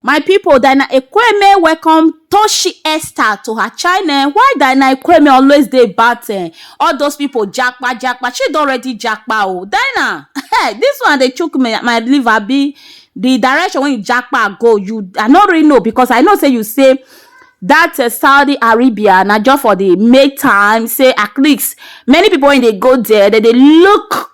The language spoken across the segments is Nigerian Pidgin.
My people, Dina Ekweme welcome Toshi Esther to her channel. Why Dina Ekweme always dey bat eh? All those people japa japa. She don already japa oh. Dina, hey, this one dey chook me my liver be the direction when you japa go. You I no really know because I know say you say that uh, Saudi Arabia na just for the make time say at least many people when they go there they dey look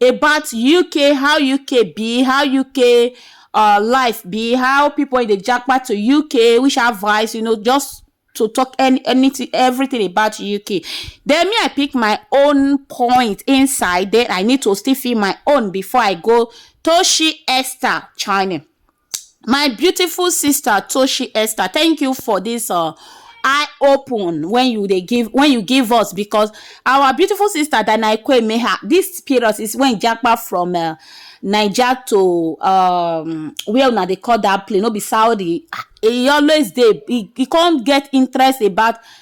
about uk how uk be how uk uh, life be how people in the jackpot to uk which advice you know just to talk any anything everything about uk then me i pick my own point inside then i need to still feel my own before i go toshi esther china My beautiful sister Toshi Esther, thank you for this uh, eye open when you dey give when you give us because our beautiful sister Danaikwe Meha, this period is when Japa from uh, Niger to um, where una dey call that place, no be Saudi. Ah, He always dey he, he come get interest about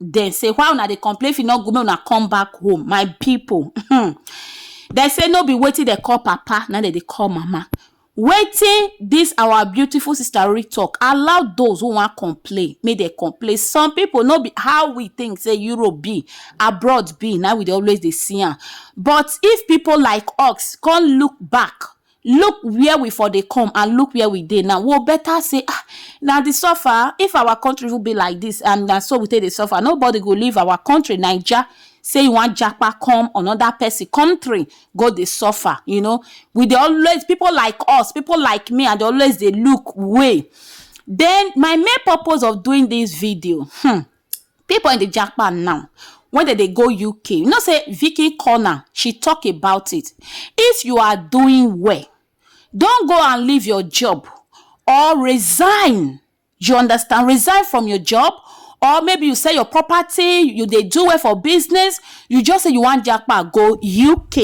Dem say why una dey complain if e no good make una come back home my people hmm dem say no be wetin dem call papa na dem dey call mama wetin this our beautiful sister Rori talk allow those who wan complain make dem complain some people no be how we think say Europe be abroad be na we dey always dey see am but if people like us come look back Look where we for dey come and look where we dey now, wo better say ah na the suffer, if our country even be like this and na so we take dey suffer nobody go leave our country naija say e wan japa come another person country go dey suffer you know we dey always people like us, people like me I dey always dey look way then my main purpose of doing this video hmm People in the jackpot now when they, they go UK. You know, say Vicky Corner, she talk about it. If you are doing well, don't go and leave your job or resign. You understand? Resign from your job or maybe you sell your property you they do it for business you just say you want jackpot go uk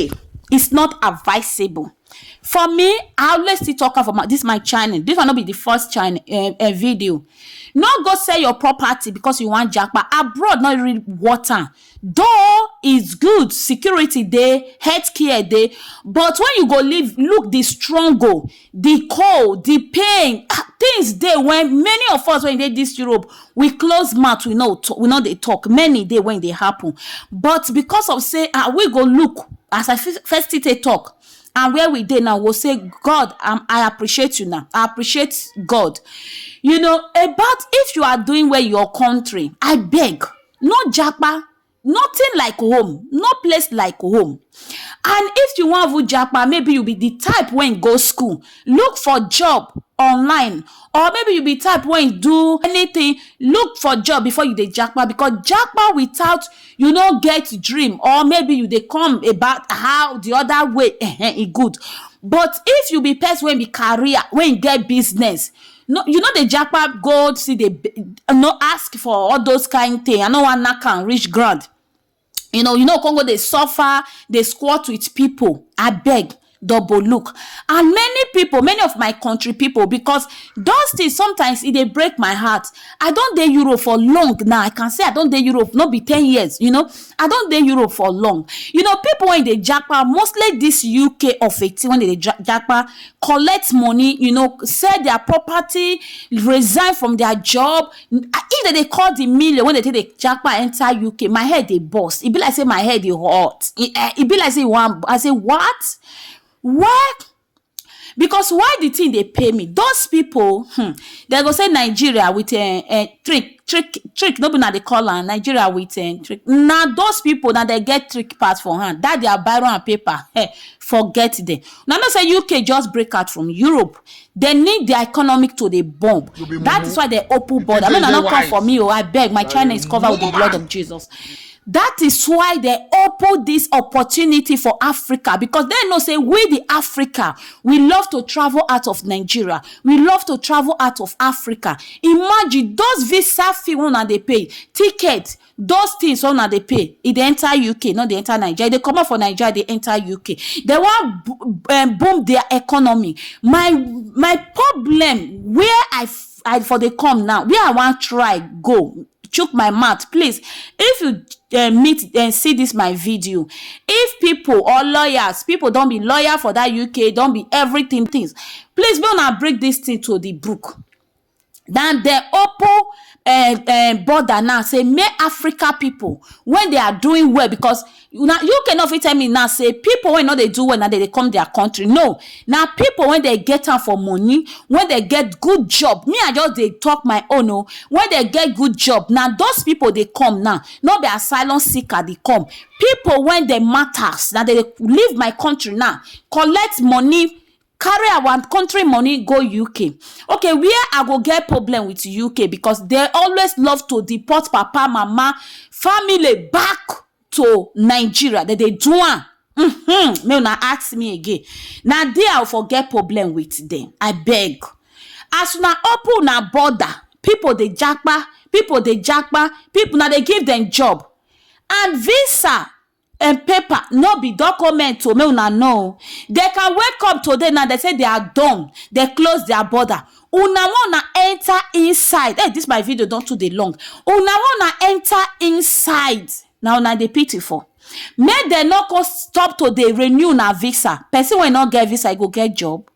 it's not advisable For me, I always still talk am for my this my channel. This one no be the first channel um, um, video. No go sell your property because you wan japa. Abroad no really worth am. Though it's good, security dey, healthcare dey, but when you go live, look the struggle, the cold, the pain, ah, things dey when many of us when dey this Europe, we close mouth we no t- we no dey talk many dey when e dey happen but because of say ah we go look as i f- first still take talk and where we dey now we go say god um, i appreciate you now i appreciate god you know about if you are doing well in your country i beg no japa Nothing like home, no place like home. And if you wan even japa, maybe you be the type wey go school, look for job online or maybe you be type wey do anything, look for job before you dey japa because japa without you no get dream or maybe you dey come about how the other way um e good. But if you be person wey be carrier, wey get business, no you no dey japa go see the no ask for all those kind thing i no wan knack am reach ground you know you no come go dey suffer dey squat with people abeg double look and many people many of my country people because those things sometimes e dey break my heart i don dey europe for long now i can say i don dey europe no be ten years you know i don dey europe for long you know people wey dey japa mostly this uk of eighteen wey dey japa collect money, you know, sell their property, resign from their job. If they, they call the million when they take the jackpot enter UK, my head they bust. It be like say my head they hot. It, eh, it be like say one. I say what? What? because why the thing they pay me those people hmm, they go say nigeria with a, a trick trick trick no be na dey call am nigeria with a trick na those people na dey get trick pass for hand that their biro and paper eh, Forget dem. Una know say UK just break out from Europe. Dem need their economic to dey bomb. You be That mumu. is why dem open You border. think Make say una you no dey come for wise? me o. Abeg, my China is covered with the blood of Jesus. That is why dem open this opportunity for Africa because dem know say we the Africa, we love to travel out of Nigeria. We love to travel out of Africa. Imagine those visa fee wey una dey pay, ticket, Those things wey una dey pay, e dey enter UK, e no dey enter Naija. E dey comot for Naija, e dey enter UK. Dem wan um boom their economy. My my problem where I I for dey come now, where I wan try go, chook my mouth, please, if you um meet um see dis my video, if pipu or lawyers, pipu don be lawyer for dat UK, don be everything things, please make una bring dis thing to the book. na dem open um um border now sey make Africa pipu wey dey are doing well because na UK no fit tell me now sey pipu wey no dey do well na dem dey come dia country no na pipu wey dem get am for money wey dem get good job me I just dey talk my own oo wey dem get good job na those pipu dey come now no be asylum seeker dey come pipu wey dem matters na dem dey leave my country now collect money carry our country money go uk okay where i go get problem with uk because they always love to deport papa mama family back to nigeria they dey do am mm-hmm. make una ask me again na there i for get problem with them i beg as una open una border people dey japa people dey japa people na dey give them job and visa and paper no be document o make una know o dem can wake up today now dem say they are done dem close their border una wan una enter inside hey this my video don too dey long una wan una enter inside na una dey pity for make dem no come stop to dey renew una visa person wey no get visa e go get job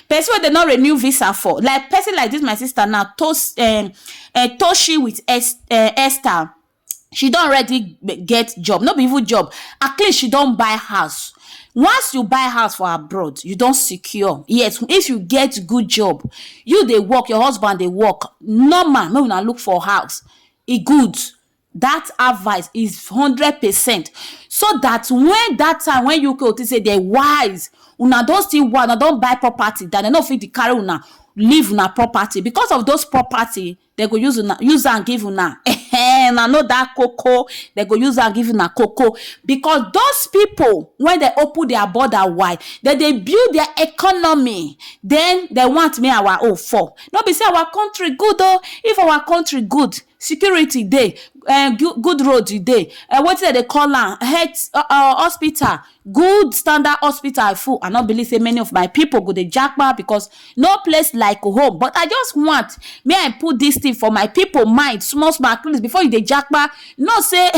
person wey dem no renew visa for like person like this my sister now tos um, um toshi with Es- um, esther she don already get job, no be even job, at least she don buy house. Once you buy house for abroad, you don secure. Yes, if you get good job, you dey work, your husband dey work, normal make una look for house. E good. Dat advice is hundred percent. So dat wen dat time wen you go think sey de wise, una don still wise, una don buy property dat de no fit dey carry una leave una property becos of dos property dem go use una use am give una ehen una know dat koko dem go use am give una koko because those people when dem open their border wide dem dey build their economy den dem want make our own fall no be sey our country good o if our country good security dey um good road dey um wetin dem dey call am health hospital Good standard hospital I full I no believe say many of my people go dey japa because no place like home but I just want may I put this thing for my people mind small small at least before you dey japa know say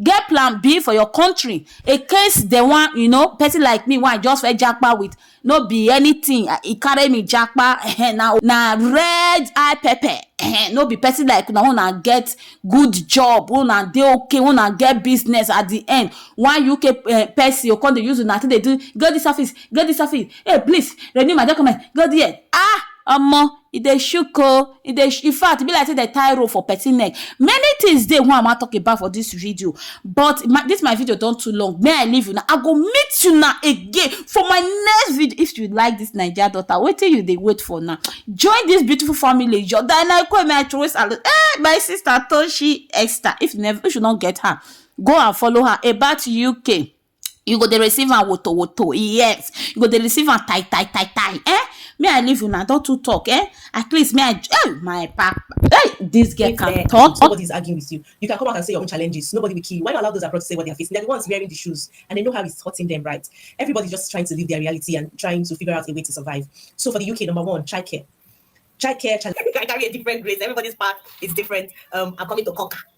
get plan B for your country in case dem wan you know person like me wey I just first japa with no be anything e carry me japa ehen na na red eye pepper ehen no be person like una una get good job una dey okay una get business at the end one UK eh, person go come dey use una take dey do go this office go this office hey please renew my document go there ah omo e dey shook oh, e dey in fact e be like sey dem tie rope for person neck. Many things dey wey I wan talk about for dis video but dis my video don too long make I leave una I go meet una again for my next video if you like dis naija daughter wetin you dey wait for na join dis beautiful family your Diana Ikueme I throway salute eeh my sister Toshi Esther if you no get her go and follow her about UK. you go dey receive am woto woto yes you go dey receive am tai tai tai tai eh me i leave una don too talk eh at least me i eh my papa eh this girl can eh, talk nobody is arguing with you you can come out and say your own challenges nobody will kill you why not allow those abroad to say what they are facing they're the ones wearing the shoes and they know how it's hurting them right everybody's just trying to live their reality and trying to figure out a way to survive so for the uk number one childcare childcare childcare carry a different grace everybody's path is different um i'm coming to conquer